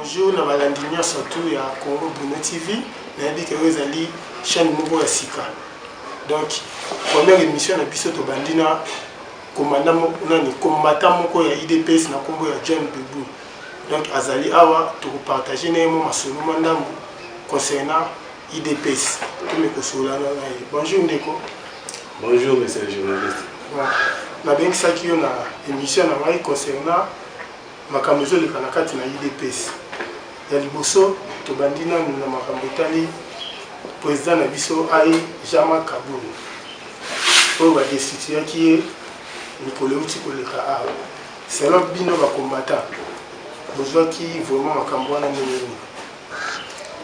bonjour na balandi nyonso tu ya congo bruno tv nayebi ke oyo ezali chaîne moko ya sika donc première émission na biso tobandi na komanda nani komata moko ya idps na nkombo ya john bebu donc azali awa tokopartage na ye mwa masolo mwa ndambo concernant idps tomi kosolana na ye bonjour ndeko bonjour monsieur le journaliste nabengisaki yo na émission na ngai concernant makambo ezoleka na kati na idps ya liboso tobandi nanu na makambo etali président na biso aye jama kabulu oyo badestituyaki ye mikolo euti koleka awa Selon bino ba combattant bozwaki vraiment makambo wana ndenge nini?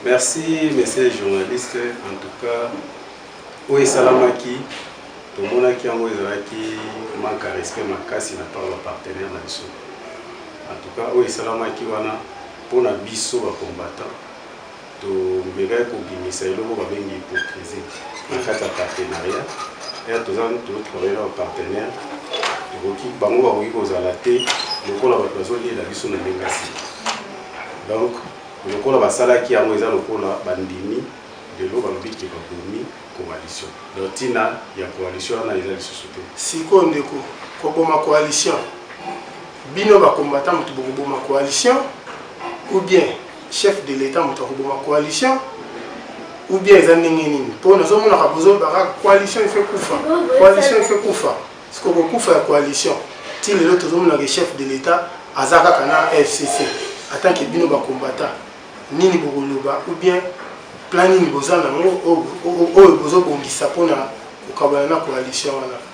Merci monsieur journaliste, en tout cas oyo esalamaki tomonaki yango ezalaki manque ya respect makasi na part ba partenaire na biso. En tout cas oyo esalamaki wana mpo na biso ba combattant Tomekaki kobimisa eloko babengi hypocrisie na kati ya partenariat ya toza totravaille na bapartenaire tokoki bango bakoki kozala te lokola bato bazolela biso na ndenge ya sika donc lokola basalaki yango eza lokola bandimi lelo balobi ke babomi coalition donc ntina ya coalition wana eza lisusu te sikoyo ndeko koboma coalition bino bakombata moto bokoboma coalition ou bien chef de l'etat moto akoboma coalition ou bien eza ndenge nini mpo nazomonaka bozolobaka coalition efe kufa coalition efe kufa sikoyo kokufa ya coalition ti lelo tozomonaka chef de l'etat aza kaka na fcc ata ke bino bakombata nini bokoloba ou bien plan nini boza nango oyo bozobongisa mpona kokabana na coalition wana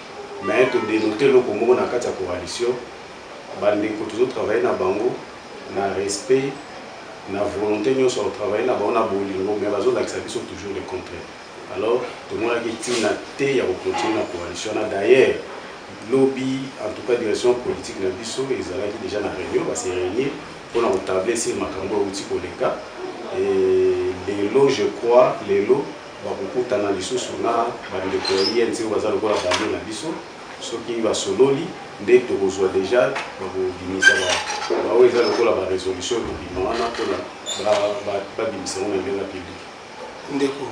mais to denote eloko moko na kati ya coalition bandeko tozo travaille na bango na respect na volonté nyonso ya kotravaille na bango na bolingo mais bazolakisa biso toujours le contraire alors tomonaki ntina te ya kocontinue na coalition na d'ailleurs lobi en tout cas direction politique na biso ezalaki déjà na réunion base réunir mpona kotable sur makambo euti koleka lelo je crois lelo Bakokutana lisusu na bandeko ya INC oyo baza lokola bande na biso, soki basololi nde tokozwa deja bakobimisa baoyo eza lokola ba resolution ekobima wana mpona babimisa yango na ndenge ya public. Ndeko,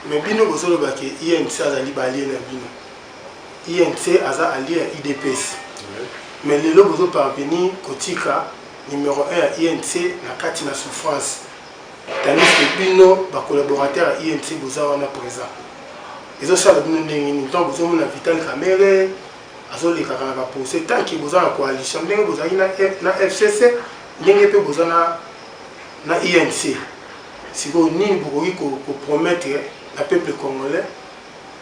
me bino bozoloba ke INC azali balie na bino, INC aza alie ya IDPS me lelo bozo parvenir kotika numero 1 ya INC na kati na souffrance tandis que bino ba collaborateur ya INC boza wana présent ezosala bino ndenge nini ntango bozomona vital kamere azolekaka na bapose tanke boza na coalition ndenge bozalaki na fcc ndenge mpe boza na inc sikoyo nini bokoki kopromettre na peuple congolais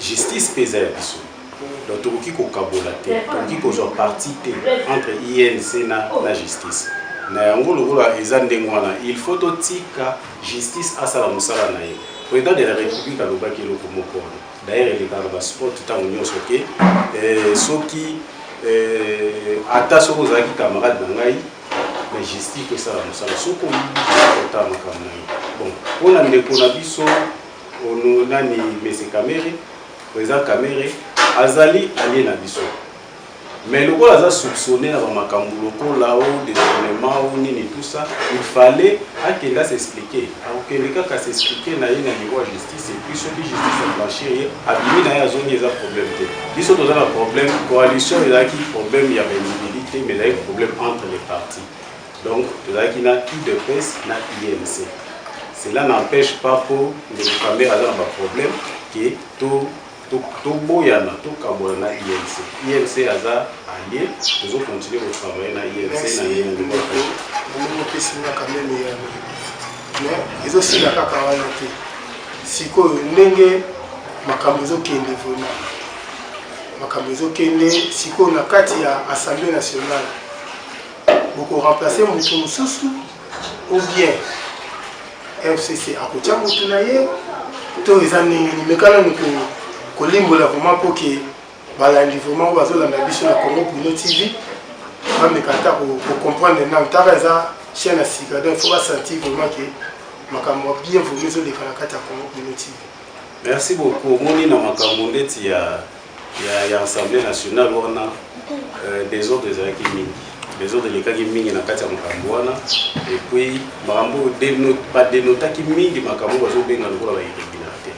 Justice pe eza ya biso. Donc tokoki kokabola te, tokoki kozwa parti te entre INC na, na justice. Na yango lokola eza ndenge wana, il faut totika justice asala mosala na ye. President de la République alobaki eloko moko wana. D'ailleurs elekaka ba sport ntango nyonso ke eh, soki eh, ata soki ozalaki camarade na ngai mais justice tosala mosala soki oyibi ota makambo na ye bon mpo na ndeko na biso Ono nani Mese Kamere, President Kamere azali alie na biso mais lokola aza soupçonné na bamakambo lokola o détournement o nini tout ça il fallait akende asexplike akokende kaka s'explike na ye na niveau ya justice epuis soki justice ablanchir ye abimi na ye azongi eza problème te biso toza na problème coalition ezalaki problème ya baindividu te mais ezalaki problème entre les partis Donc tozalaki na udps na UNC. Cela n'empêche pas po ndeko Kamere aza na ba problème ke to toboyana tokabola na UNC. UNC aza allié, tozo continuer ko travailler na UNC na ndenge moko. Omokisi nga quand même ya mais ezosila kaka wana te. Sikoyo ndenge makambo ezokende vraiment makambo ezokende sikoyo na kati ya assemblée nationale boko remplacer moto mosusu ou bien fcc akotya moto na ye to eza ndenge nini mekana ni kolimbola vraimen mpo ke balandi vraimen oyo bazolanda biso na congo bruno tv bameka ata kocomprendre nano ntaka eza chien na sika donc faut basentir vraimen ke makambo bien vraimen ezoleka na kati ya congo bruno tv merci beaucoup omoni na makambo ndeti ya ya, ya assemblée nationale wana euh, desordre ezalaki mingi desordre elekaki mingi na kati ya makambo wana epuis makambo oyo badenotaki mingi makambo oyo bazobenga lokola ba irrégularité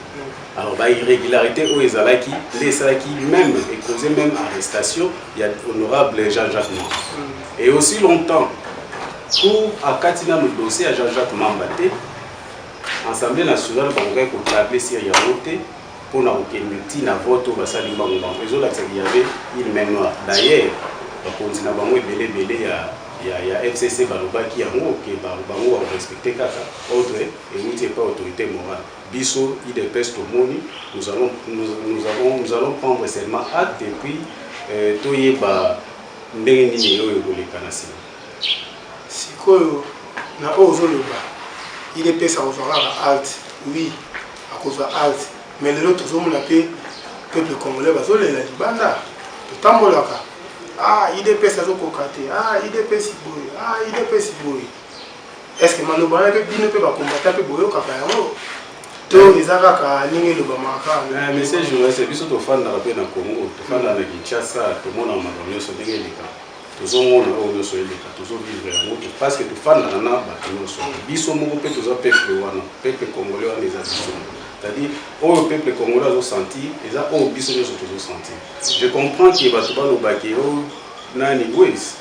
alors ba irrégularité oyo ezalaki nde esalaki même ecause même arrestation ya honorable jean jacques mamba mm. et aussi longtemps cour akati nano dossier ya jean jacques mamba te assemblée nationale bakokaki kotable sir yango te mpo na kokende ti na vote oyo basali mbangu mbangu ezolakisa ki yave il main noir d'ailleurs bakonzi na bango ebele ebele ya ya, ya fcc balobaki yango ke bango bakorespecte kaka ordre euti epai autorité morale biso idps tomoni nous allons, nous, nous avons, nous allons prendre seulement acte et puis euh, toyeba ndenge nini oyo ekoleka na nsima Sikoyo na oyo ozoloba il est pesa kozwa kaka alt oui akozwa alt mais lelo tozomona mpe peuple congolais bazolela libanda totambolaka ah idps azokoka te ah idps boye ah idps boye est ce que maloba wana mpe bino mpe bakombata mpe boyokaka yango to eza kaka ndenge elobamaka kaka eh, monsieur journaliste biso tofandaka mpe na congo tofandaka na kinshasa tomona makambo nyonso ndenge elekaka tozomona oyo nyonso eleka tozovivre yango parceke tofandaka na bato nyonso biso moko mpe toza peuple wana peuple congolais wana eza biso c'est-à-dire oyo peuple congolais azosenti eza oyo biso nyonso tozosenti je comprends ke bato balobaki o oh, nani wes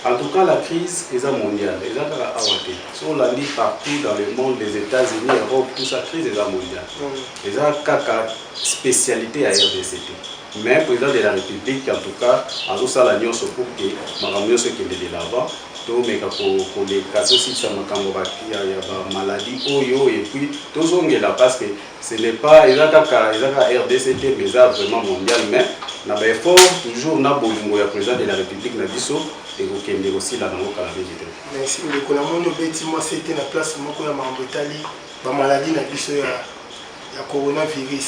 en tout cas la crise eza mondiale eza kaka awa te so olandi partout dans le monde les états-unis europe tout ça crise eza mondiale mm. eza kaka spécialité ya rdc te Mais president de la republique en tout cas azosala nyonso pour que makambo nyonso ekende de l'avant tomeka koleka tosilisa makambo ya bamaladi oyo epuis tozongela parce que ce n'est pas eza kaka eza kaka rdc te mais eza vraiment mondial mais na baeffort toujours na bolingo ya président de la république na biso ekokende kosila nango kala mingi te merci ndeko namoni obeti mwa sete na place moko ya makambo etali bamaladi na biso ya coronavirus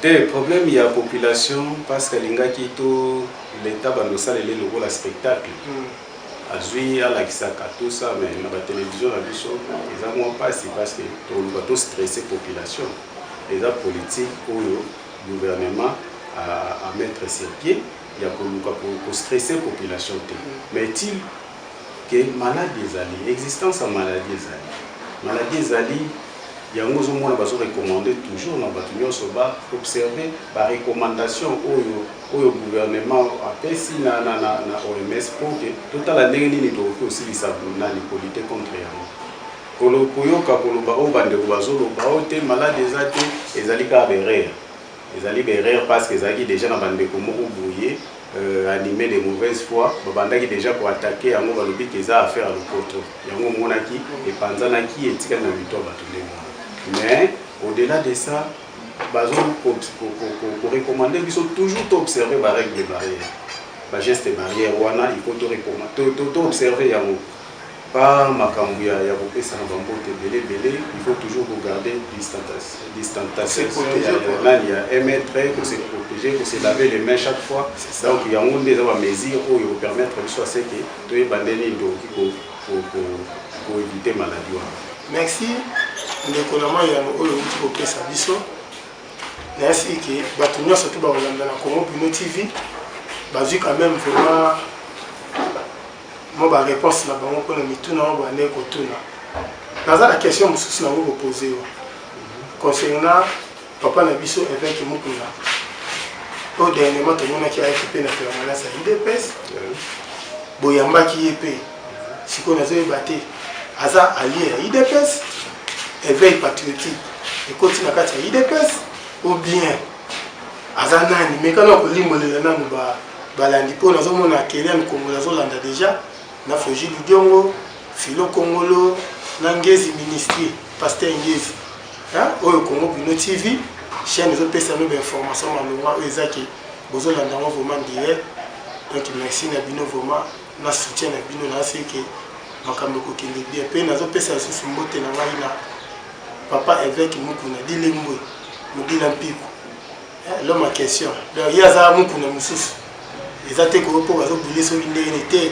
Te problème ya population parce que alingaki to l'etat bando salele lokola spectacle. Mm. Azui alakisaka tout ça mais na ba télévision na biso eza mwa pasi parce que to luka to stresser population. Eza politique oyo gouvernement à, à mettre ses pieds ya ko luka ko stresser population te. Mm. Mais il que maladie ezali existence ya maladie ezali maladie ezali yango ozomona bazo recommande toujours na bato nyonso ba observe ba recommandation oyo oyo gouvernement apesi na, na, na, na oms mpo te totala ndenge nini tokoki kosilisa nani kolite contre yango koyoka koloba oyo bandeko bazoloba oyo te malade eza te ezali kaka berere ezali berere parce que ezalaki déjà na bandeko moko boye euh, anime de mauvaise foi babandaki deja koatake yango balobi ke eza affaire ya lopoto yango omonaki epanzanaki etikali na mito ya bato ndenge mais au-delà de ça bazo korecommande biso toujours toobserve barègle de barrière bageste barrière wana il faut toobserve yango pa makambo ya ya kopesana bambote ebele ebele il faut toujours kogarde distantation kote ya nani ya un mètre kose protege kose lave les mains chaque fois donc yango nde eza bamesure oyo ekopermettre biso ya seke toyeba nde nini tokoki koevite maladi wana merci ndeko na mai yango oyo outi kopesa biso nayasi eke bato nyonso to bakolanda na congo bino tv bazwi quand même vraiment mwa ba réponse na bango mpo na mituna oyo bande kotuna naza na question mosusu nango kopose yo concernant papa na biso évêque mukuna oyo dernièrement tomonaki ayaki mpe na permanence ya udps boyambaki ye mpe sikoyo nazoyeba te aza alie ya udps éveil patriotique ekoti na kati ya udps ou bien aza nani meka na kolimbolela nanu balandi mpo nazomona akele mikongolo azolanda deja na foji ludiongo filo kongolo na ngezi ministri paster ngezi oyo kongo bino tv chaîne ezopesa no bainformation malonga oyo eza ke bozolanda yango vraiment direct donc merci na bino vraiment na soutien na bino na seke makambo ekokende bien mpe nazopesa lisusu mbote na ngai na papa évêque mukuna dilembwe mobina mpiku eh, loma question donc ye aza mokuna mosusu eza te koyo mpo bazobule soki ndenge ni te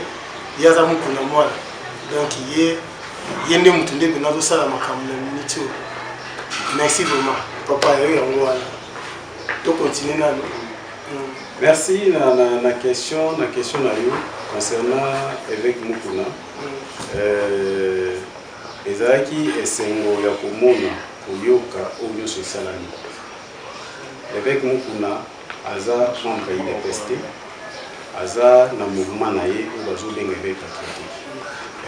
ye aza mokuna mwana donc ye ye nde motu nde mpena azosala makambo na miniti oyo merci vraiment papa yo yango wana tokontinue nano mm. merci na, na, na question na question na yo concernant évêque mokuna mm. euh, Ezalaki esengo ya komona, koyoka oyo nyonso esalami. Leveque Mukuna aza membre ya UDPS te, aza na mouvement na ye oyo bazobenga eveil patriotique.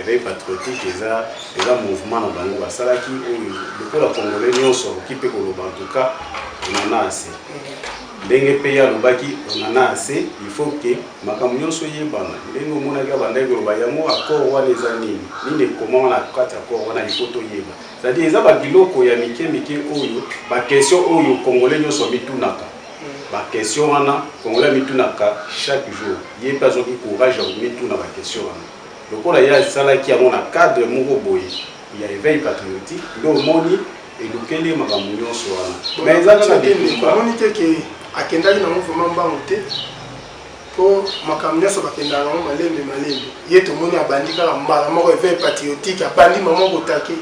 Eveil patriotique eza eza mouvement na bango basalaki oyo lokola congolais nyonso akoki mpe koloba en tout cas on en a assez. ndenge mpe ye alobaki onana ase il faut que makambo nyonso eyebana ndenge omonaki abandaki koloba yango accord wana eza nini nini ekomama na kati accord wana il faut toyeba cetadi eza babiloko ya mike mike oyo baquestion oyo congolais nyonso mitunaka baquestion wana congolais amitunaka chaque jour ye mpe azwaki courage ya komituna baquestion wana lokola ye asalaki yango na cadre moko boye ya eveil patriotique nde omoni elukeli ye makambo nyonso wana mais eza kaka bitumba omoni te ke akendaki nango vraiment mbangu te mpo makambo nyonso bakendaka nango malembe malembe ye tomoni abandi kaka mbala moko evei patriotique abandi mama kotake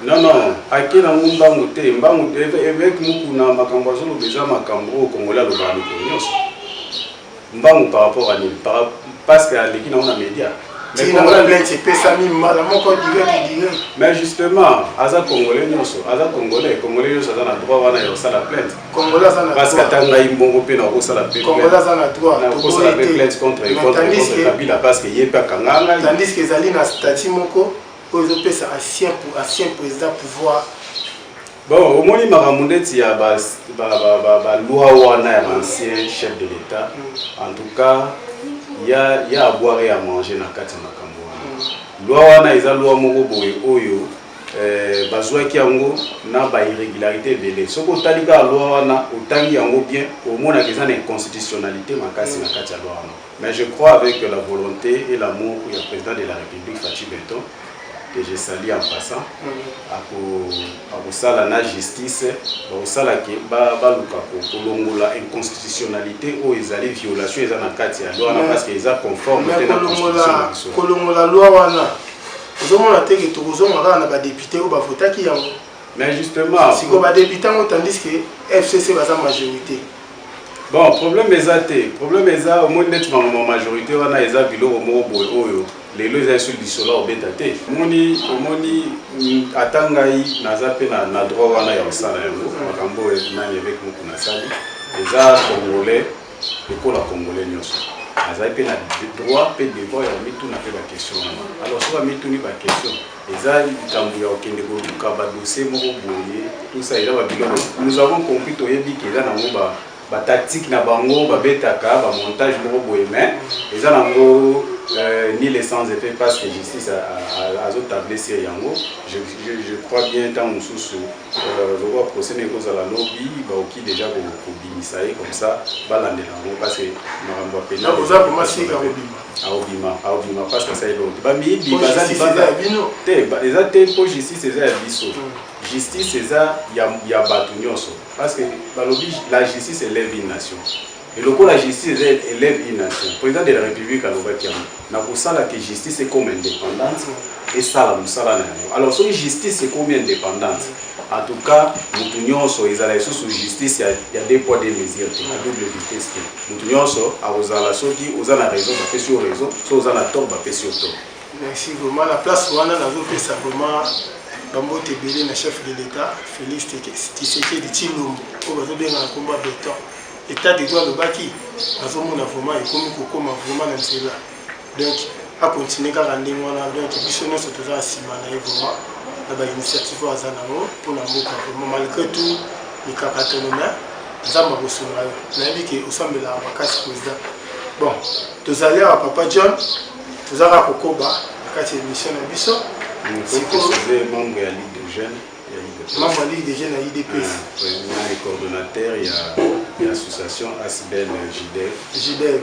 non non ake nango mbangu te mbangu te eveke mokuna makambo azoloba eza makambo oyo kongola alobaka mikolo nyonso mbangu par rapport à nini parce que aleki nango na média tinaleti epesami mbala moko direct direct mais justement aza congolais nyonso aza congolais congolais nyonso aza na droit wana ya kosala plainte parce que ata ngai mbongo mpe nakosala nakosala mpe plainte contre contre kabila parce que ye mpe akanga ngai tandis que ezali na statut moko oyo ezopesa ancien président pouvoir Bon, omoni makambo ndeti ya ba ba ba ba, ba loi wana ya l'ancien chef de l'État. Mm. En tout cas, il y a il y a à boire et à manger na kati ya makambo wana. Mm. Loi wana eza loi moko boye oyo euh, bazwaki yango na ba irrégularité ebele. Soki otali kaka loi wana, otangi yango bien, omonaka eza na inconstitutionnalité makasi na kati ya loi wana. Mais je crois avec la volonté et l'amour du président de la République Fatshi Beton que je salue en passant akosala na justice bakosala ke baluka kolongola inconstitutionnalité oyo ezali violation eza na kati ya loi wana parce que eza conforme te na constitution kolongola loi wana ozomona te ke tokozonga kaka na badepute oyo bavotaki yango mais justement sikoyo badepute yango tandis que fcc baza majorité bon problème eza te problème eza omoni neti mangoma majorité wana eza biloko moko boye oyo lelo eza esu lisolo obeta te omoni omoni mm, ata ngai naza mpe na, na droit wana ya kosala yango makambo oyo nani eveke moku nasali eza congolais lokola congolais nyonso azali mpe na droit mpe devoir ya komituna mpe baquestion wana alors so bamituni baquestion eza likambo ya kokende koluka ba dossier moko boye tout ça eza ba biloko nous avons compris toyebi ke eza nango ba ba tactique na bango babetaka ba montage moko boye mais eza nango euh, ni le sans effet parce que justice azotable sur yango je, je, je crois bien ntango mosusu euh, lokwa procès na ekozala lobi baoki déjà kobimisa ye comme ça balandela yango parce que makambo ya pena aobima aobima pasi asali eloko te bamiyibi baza libanda te eza te mpo justice eza ya biso hmm. justice eza ya bato nyonso parce que balobi la justice elève une nation elokola justice eza elève une nation président de la république alobaki yango na kosala ke justice ekoma indépendante esala mosala na yango alors soki justice ekomi indépendante En tout cas mutu nyonso ezala lisusu justice ya, ya deux poids deux mesures te, na double vitesse te. Mutu nyonso akozala soki oza na raison bapesi yo raison, soki oza na tort bapesi yo tort. Merci vraiment na place wana nazopesa vraiment bambote ebele na chef de l'État Félix Tshisekedi Tshilombo oyo bazobenga na nkombo ya beton etat de droit alobaki nazomona vraiment ekomi kokoma vraiment na nzela donc acontinue kaka ndenge wana donc biso nyonso toza na nsima na ye vraiment na bainitiative oyo aza nango mpo na mboka vraiment malgré tout mikakatano me nzambe akosunga yo nayebi ke osambelaka makasi président bon tozali awa papa john toza kaka kokoba na kati ya émission na biso membre ya ligue de jeune membre ya ligue de jeune ya idps coordonnateur ya association asbel jidef jidef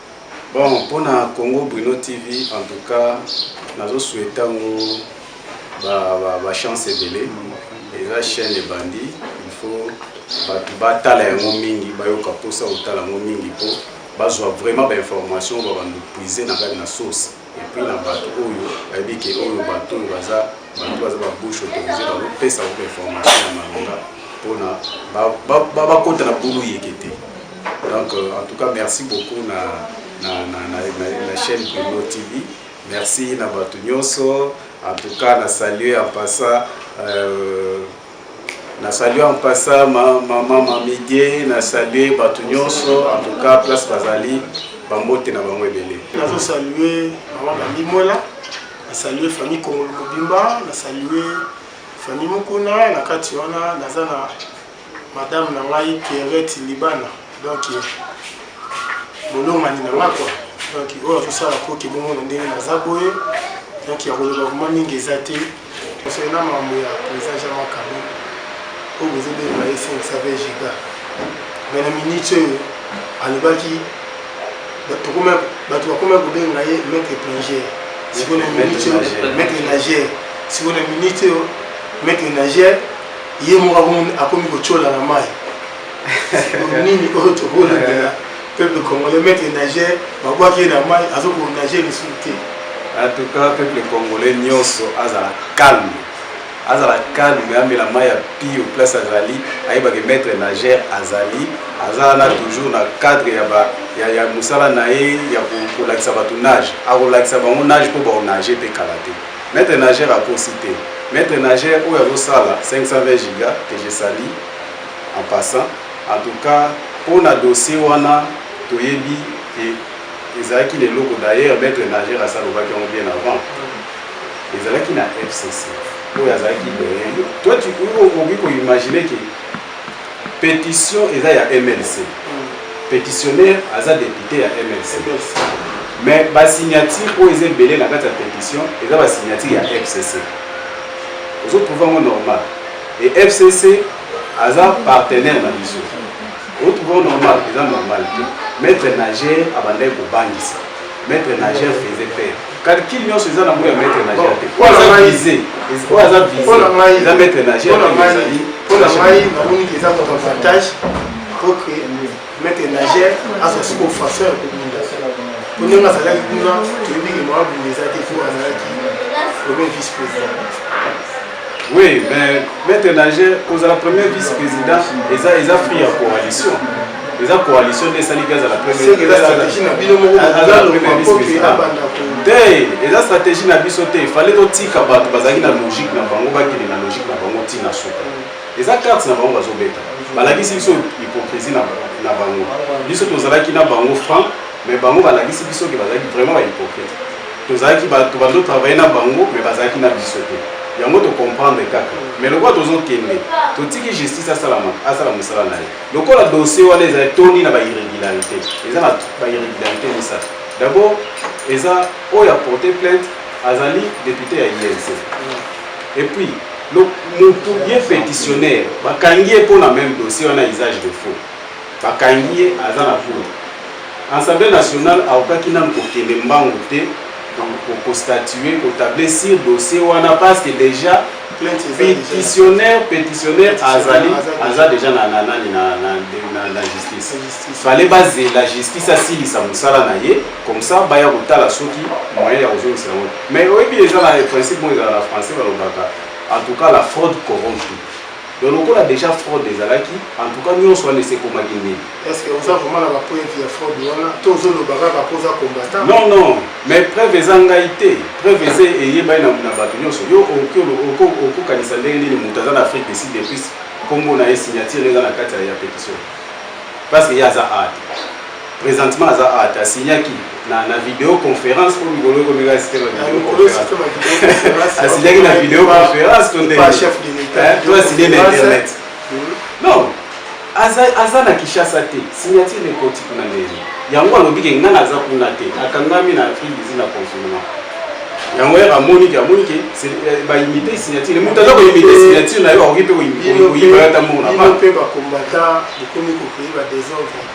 Bon, pona Congo Bruno TV, en tout cas, nazo souhaita ngo ba, ba, ba chance ebele. Eza chaîne ebandi, il faut bato batala yango mingi, bayoka posa kotala yango mingi po bazwa vraiment ba information ba bando puiser na kati na source. epuis na bato oyo bayebi ke oyo bato oyo baza bato baza babouche autorise bakopesa bango information ya malonga mpona bakota na bulu yeke te donc euh, en tout cas merci beaucoup na, na, na, na, na, na chaîne bruno tv merci na bato nyonso en tout cas na salue en passant euh, Na salue en passant ma maman Mamidie, na salue bato nyonso en tout cas place bazali bambote na bango ebele. Nazo salue maman Bamimwela, na salue famille Kongolo mobimba, na salue famille Mukuna na kati wana naza na madame na ngai Pierrette Libana donc bolongani na ngai quoi donc oyo akosala koki bongo na ndenge naza boye donc ya koloba vraimen mingi eza te Concernant mambo ya president Jean Marc Kabund oyo bozobenga ye 520 giga me na minute oyo alobaki bato bakomaki kobenga ye maître plongeur sikoyo na minute oyo maître nageur sikoyo na minute oyo maître nageur ye moko akomi kotyola na mai nini oyo tokolobela Peuple congolais maître nager babwaki ye na mai azo ko nager lisusu te. En tout cas peuple congolais nyonso azala calme azala calme amela mai ya pio place azali ayeba ke maître nager azali aza wana toujours na cadre ya, ba, ya, ya mosala na ye ya kolakisa bato nage akolakisa bango nage mpo baonage mpe kala te maître nager akosi te maître nager oyo azosala 520 giga que je sali en passant En tout cas, mpo na dossier wana toyebi ke ezalaki na eloko d'ailleurs maître nageur asi alobaki yango bien avant ezalaki na fcc oyo azalaki doyen toi tu okoki koimagine ke pétition eza ya mlc pétitionnaire aza député ya mlc mais basignature oyo eza ebele na kati ya pétition eza basignature ya fcc ozotrouve yango normal e fcc aza partenaire na biso otuko normal eza normal te maître nager abandaki kobangisa maître nager faisait peur calcul nyonso eza na ngo ya maître nager te oyo aza vise oyo aza vise eza maître nager mpona ngai namoni eza moto avantage oke maître nageur azwa soki ofaseur ya kobunda po ndenge azalaki kuna toyebi ke mama bunda eza te po azalaki premier vice président oui mais maître nageur kozala premier vice président eza eza fruit ya coalition eza coalition nde esaliki azala te eza stratégie na biso te fale totika bato bazalaki na logique na bango bakende na logique na bango ntina suka Eza carte na bango bazobeta. Balakisi biso hypocrisie na, na bango. Biso tozalaki na bango franc, mais bango balakisi biso ke bazalaki vraiment ba hypocrite. Tozalaki bato bazo travailler na bango, mais bazalaki na biso te. Yango to comprendre kaka. Mais lokola tozokende, totiki justice asala asala mosala na ye. Lokola dossier wana ezali toni na ba irregularité. Eza na ba irregularité misato. D'abord, eza oyo a porter plainte azali depute ya INC. Et puis Donc mutu ye petitionnaire bakangi ye mpo na meme dossier wana usage de faux bakangi ye aza na cour assemblée nationale aokaki nanu kokende mbangu te kostatue kotable sur dossier wana parce que déjà petitionnaire petitionnaire azali aza déjà na nani na justice fale bazela justice asilisa mosala na ye comme ça baya kotala soki moyen ya kozongisa yango Mais oyebi eza na principe moko ezala na français balobaka en tout cas la fraude corrompt tout. Donc lokola déjà fraude ezalaki en tout cas nyonso wana esekomaki ndenge. Est ce que oza vraiment na ba preuve ya fraude wana to ozoloba kaka mpo oza combattant? Non non, mais preuve eza ngai te. Preuve eza eyebani na bato nyonso. Yo okokanisa ndenge nini moto aza na Afrique du Sud depuis nkombo na ye signature eza na kati ya petition parce que ye aza art Présentement aza art asignaki na na video conférence po mikolo ekomi kaka site bavideoconférence asignaki na video conférence to nde to asigne na internet non aza aza na Kinshasa te signature ekoti kuna ndenge yango alobi ke ngai naza kuna te akangami na Afrique du Sud na confinement yango yaka amoni ke amoni ke baimite signature moto aza koimite signature na yo akoki mpe koyiba yo ata mona mpe bacombatant bokomi kokoyi badesordre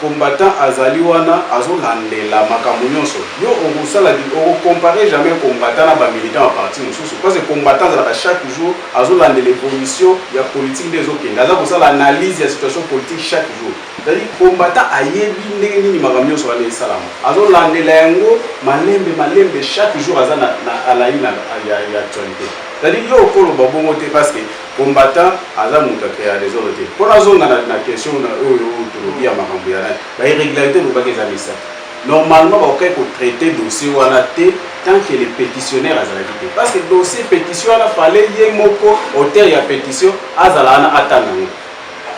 Combattant azali wana azo landela makambo nionso yo okosala oko comparer jamais combattant na ba militants ya parti mosusu parce que combattant azalaka chaque jour azo landela evolution ya politique nde ezo kende aza kosala analyse ya situation politique chaque jour c'est à dire combattant ayebi ndenge nini makambo nionso wana esalama azo landela yango malembe malembe chaque jour aza na na alaina ya actualite c'est à dire yo okoloba bongo te parce que Combattant aza mutu a crea desordre te. Mpo nazonga na, na question na oyo tolobi ya makambo ya nani ba irregularité olobaki eza misato. Normalement bakokaki ko traiter dossier wana te tant que le petitionnaire azalaki te parce que dossier petition wana fallait ye moko auteur ya petition azala wana atanga yango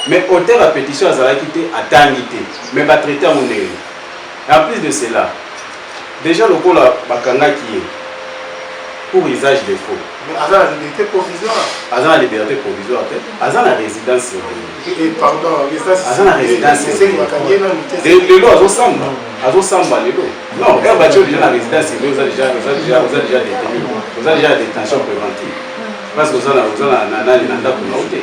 mais auteur ya petition azalaki te atangi te mais ba traiter yango ndenge nini en plus de cela Dejà lokola ba kangaki ye pour usage de faux. Mais aza na liberté provisoire. Aza na liberté provisoire te. Aza na résidence surveillée. Et pardon, résidence aza na résidence surveillée. Lelo azo samba, azo samba lelo. Non, heure batio déjà na résidence surveillée, oza déjà oza déjà oza déjà détenu. Oza déjà détention préventive. Parce que oza na oza na na na ndako na ote.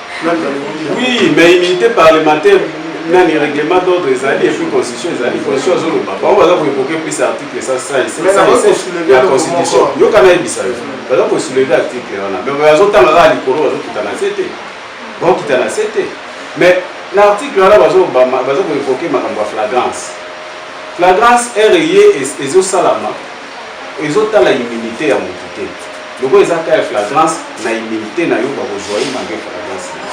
Oui, mais immunité parlementaire nani règlement d'ordre ezali epuis constitution ezali constitution azoloba bango baza koevoke plus article 167 ya constitution yoka nayebisa yo baza kosouleve article wana me bazotanga kaka likolo bazokita na se te bakokita na se te mais na article wana baza koevoke makambo ya flagrance flagrance ere ye ezosalama ezo tala immunité ya mutu te lokola eza ka ya flagrance na immunité na yo bakozwa ye malgré flagrance na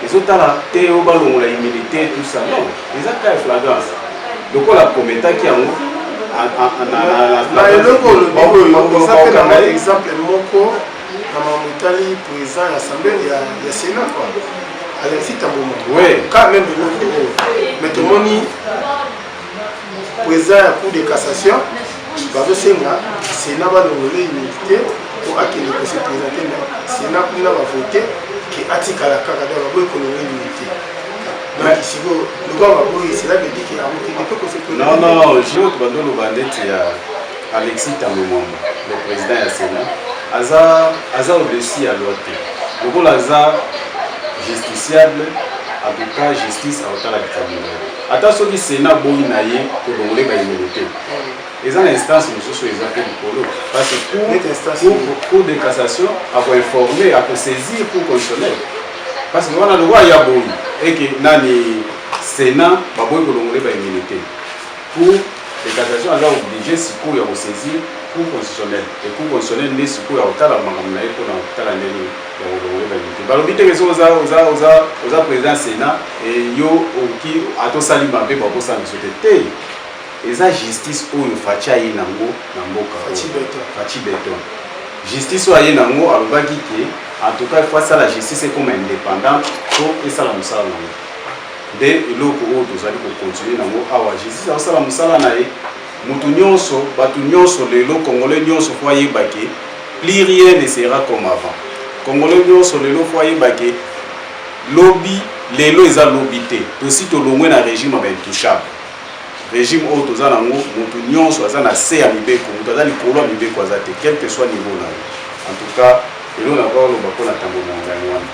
ezo tala te yo balongola immunité tout ça non eza ka ya flagrance lokola kometaki yango na eloko olobiokozapelanga exemple moko na mamotali président ya assemblée ya sénat quoi alexis tamboma oui. ka meme eloko oyo mais tomoni président ya cour de cassation bazosenga sénat balongola immunité po akende kose présente na sénat kuna bavote ke atikala kaka donc baboyi kolongola immunité donc sikoyo lokola baboyi cela veut dire ke akokende mpe kose non non jour bandoloba ndeti ya alexis tango mwamba le président ya sénat aza aza au-dessus ya loi te lokola aza justiciable en tout cas justice akotalaka kabila Ata soki Sena aboyi na ye tolongole bayemele te eza na instance mosusu eza mpe likolo parce cour de cassation akoinforme akosaisir cour constitutionnel parce que wana lokola ya boyi eke nani sénat baboyi kolongole baimene te cour de cassation aza oblige sikoyo ya kosaisir cour constitutionnel e cour constitutionnel nde sikoyo akotala makambo na ye mpona kotala ndenge balobi teke soki oza oza oza oza président sénat yo oki ata osali mabe bakosala biso te te eza justice oyo faci aye nango na mboka faci beton justice oyo aye nango alobaki ke en tout cas il faut asala justice ekoma indépendante po esala mosala nango nde eloko oyo tozali kokontinue nango awa justice akosala mosala na ye Mutu nionso, batu nionso lelo, congolais nionso faut ayeba ke plus rien ne sera comme avant. Congolais nionso lelo faut ayeba ke lobi lelo eza lobi te. Tosi tolongwe na regime ya ba intouchable. Regime oyo toza nango, mutu nionso aza na se ya mibeko, mutu aza likolo ya mibeko aza te, quel que soit niveau na ye. En tout cas, lelo na kwa loba pona tambo na ngai wana.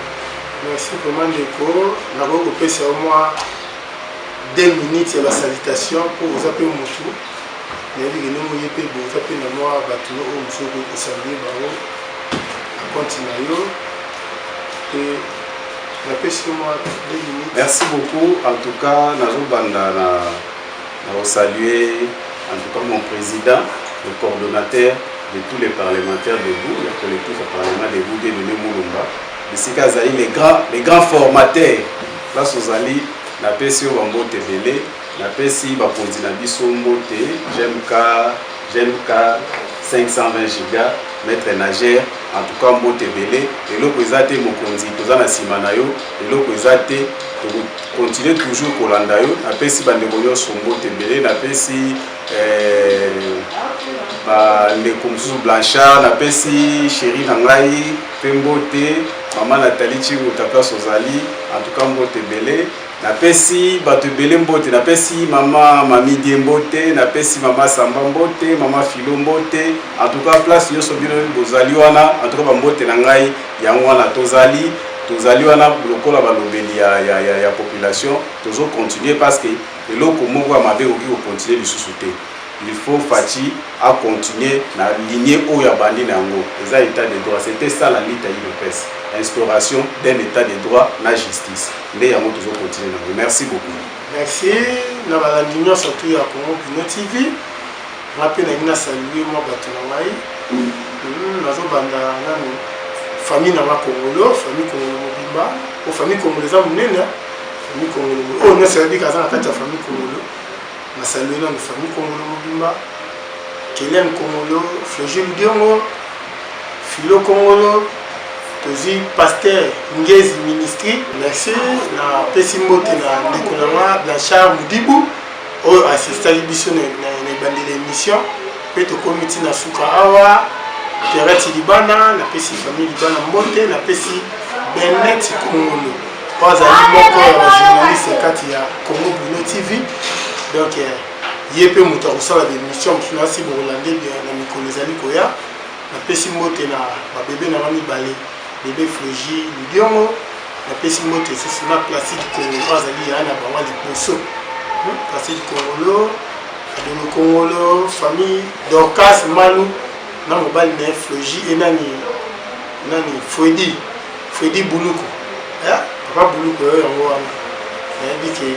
Merci vraiment ndeko, nakoki kopesa yo mwa deux minutes ya ba salutation mpo oza mpe motu nayebi ke ndenge oye mpe boza mpe na mwa bato no oyo mosusu okoki kosalue bango na konti na yo mpe napesi yo mwa deux minutes merci beaucoup en tout cas nazobanda na na kosalue en tout cas mon président le coordonnateur de tous les parlementaires debout ya collectif ya parlement debout de nene molumba bisika azali le grand formateur Place ozali, napesi yo ba mbote ebele, napesi bakonzi na biso mbote, JMK, JMK 520 giga, maitre nager, en tout cas mbote ebele, eloko eza te mokonzi, toza na sima na yo, eloko eza te, tokokontinue toujours kolanda yo, napesi bandeko nyonso mbote ebele, napesi eh, bandeko mosusu Blanchard, napesi chéri na ngai, Pe mbote maman Nathalie Tshiruta place ozali en tout cas mbote ebele napesi bato ebele mbote napesi mama mamidie mbote napesi mama samba mbote mama filo mbote en tout cas place nyonso bino bozali wana en tout cas bambote na ngai yango wana tozali tozali wana lokola balobeli ya, ya, ya, ya population tozocontinue parce que eloko moko ya mabe ekoki kocontinue lisusu te Il faut Fatshi a continuer na ligne oyo abandi na yango. Eza etat de droit. C'etait ça la lutte ya udps. Instauration d'un etat de droit na justice. Nde yango tozo continuer na yango. Merci beaucoup. Merci na balandi nyonso tu ya Congo Kino TV. Nga pe na ngina saluer mwa bato na ngai. Hmm, nazo banda nanu famille na nga Kongolo, famille Kongolo mobimba. O famille Kongolo eza monene. Famille Kongolo. Oyo nyonso ayebi kaza na kati ya famille Kongolo. Nasaluer na famille Kongolo mobimba, Kelian Kongolo, Floje Ludiongo, Philo Kongolo, tozwi pasteur Ngezi Ministry. Merci, napesi mbote na ndeko na nga Blanchard Mudibu oyo assistaki biso na ebandeli ya émission mpe tokomi nti na suka awa terati libana napesi famille libana mbote napesi benet kongolo oyo azali moko ya bajournaliste kati ya congo bruno tv donc eh, ye mpe moto akosala baémission mosusu na si bokolande na mikolo ezali koya napesi mbote na babebe na nga mibale bebe fregi lidiongo napesi mbote esusu na placide kongolo azali ya na bango liboso hmm, placide kongolo adolo kongolo famille dorcas manu na mobali na ye fregi enani nani fredi Fredi Buluku eh, papa Buluku yo yango wana nayebi ke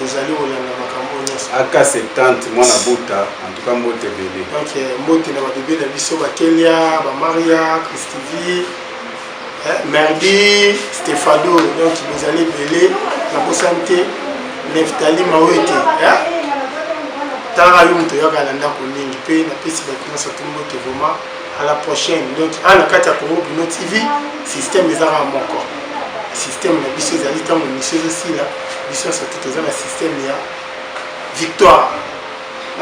ozali kolanda makambo nyonso aka 70 mwana buta en tout cas mbote ebele donc eh, mbote na babebe na biso bakelia bamaria christivi eh, merdi stefado donc bozali ebele nakosani te neftali mawete eh? talaka yo moto oyaka na ndako mingi mpe napesi bato nyonso to mbote vraimen à la prochaine donc a na kati ya congo bino tv système ezaka moko système na biso ezali ntango misio ezosila biso nyonso te toza na système ya victoire na